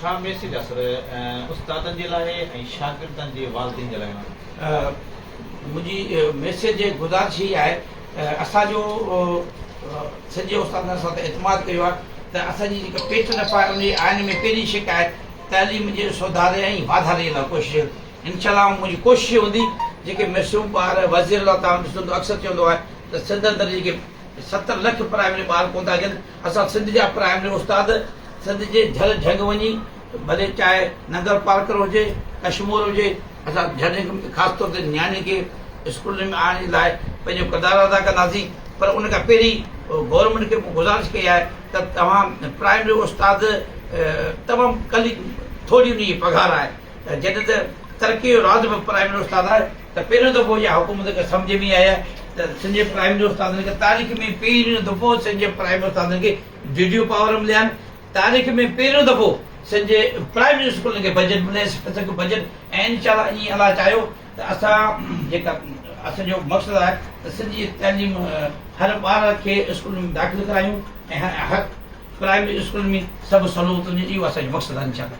ڇا ميسيج اثر استادن جي لاء ۽ شاگردن جي والدين جي لاء آهن؟ منهنجي ميسيج گذارش هي آهي اسان جو سنڌ جي استادن اسان تي اعتماد ڪيو آهي ته اسان جي جيڪا پيٽرن اف آهي ان جي آئين ۾ پهرين شق آهي تعليم جي سڌاري ۽ واڌاري لاء ڪوشش انشاء الله منهنجي ڪوشش هوندي جيڪي معصوم ٻار وزير الله تعالي ڏسندو اڪثر چوندو آهي ته سنڌ اندر جيڪي ستر لک پرائمري ٻار ڪون ٿا اچن اسان سنڌ جا پرائمري استاد سنڌ جي جھل جھنگ وڃي ڀلي چاهي ننگر پارڪر هجي ڪشمور هجي اسان جھل جھنگ ۾ خاص طور تي نياڻين کي اسڪولن ۾ آڻڻ جي لاء پنهنجو ڪردار ادا ڪنداسين پر ان کان پهرين گورنمينٽ کي مون گذارش ڪئي آهي ته توهان پرائمري استاد تمام ڪلي ٿوري ان جي پگهار آهي جڏهن ته ترقي جو راز به پرائمري استاد آهي ته پهريون دفعو اها حڪومت کي سمجهه ۾ آيا ته سنڌ جي پرائمري استادن کي تاريخ ۾ پهريون دفعو سنڌ جي پرائمري استادن کي جوجو پاور مليا آهن تاريخ ۾ پهريون دفعو سنڌ جي پرائمري اسڪولن کي بجيٽ ملي سکه بجيٽ ۽ ان شاء الله ايئن الله چاهيو ته اسان جيڪا اسان جو مقصد آهي ته سنڌ جي تعليم هر ٻار کي اسڪولن ۾ داخل ڪرايون ۽ هر پرائمري اسڪولن ۾ سڀ سهولتون ڏيون اهو اسان جو مقصد آهي ان شاء الله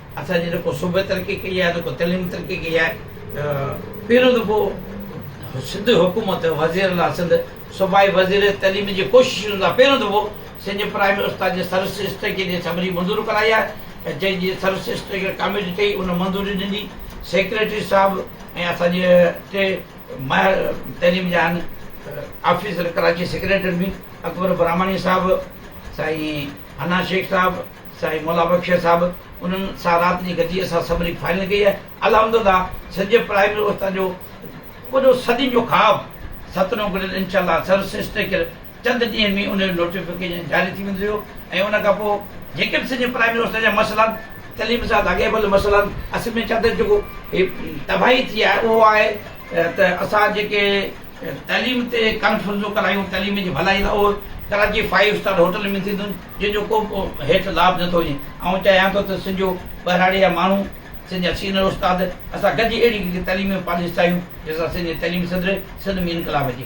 اسان جي نه ڪو صوبي ترقي ڪئي آهي نه ڪو تعليم ترقي ڪئي آهي پهريون دفعو سنڌ حڪومت وزير الله سنڌ صوبائي وزير تعليم جي ڪوششن لاء پهريون دفعو سنڌ پرائمري استاد جي سروس اسٽريٽجي جي اسيمبلي منظور ڪرائي آهي ۽ جنهن جي سروس اسٽريٽجي ڪاميٽي ٺهي ان منظوري ڏني سيڪريٽري صاحب ۽ اسان جي ٽي ماهر تعليم جا آهن آفيسر ڪراچي سيڪريٽري ۾ اڪبر براهماڻي صاحب سائين حنا شيخ صاحب سائين مولا بخش صاحب انهن سان رات جي گڏجي سان سمري فائنل ڪئي آهي الحمدلله سنڌ پرائمري اوستا جو وڏو صدين جو خواب ستنو گڏيل انشاء الله سر سسٽيڪر چند ڏينهن ۾ ان جو نوٽيفڪيشن جاري ٿي ويندو ۽ ان کان پوء جيڪي به سنڌ پرائمري اوستا جا مسئلا تعليم سان لاڳاپيل مسئلا اصل ۾ چاته جيڪو تباهي ٿي آهي اهو آهي ته اسان جيڪي تعليم تي ڪانفرنسون ڪرايون، تعليم جي ڀلائي لاء اهي ڪراچي فائيو اسٽار هوٽل ۾ ٿينديون جن جو ڪو به هيٺ لاڀ نه ٿو هجي. آئون چاهيان ٿو ته سنڌ جو ٻهراڙي جا ماڻهو، سنڌ جا سينئر استاد اسان گڏجي اهڙي هڪ تعليمي پاليسي ٺاهيون جنهن سان سنڌ جي تعليمي سدر سنڌ ۾ انقلاب اچي.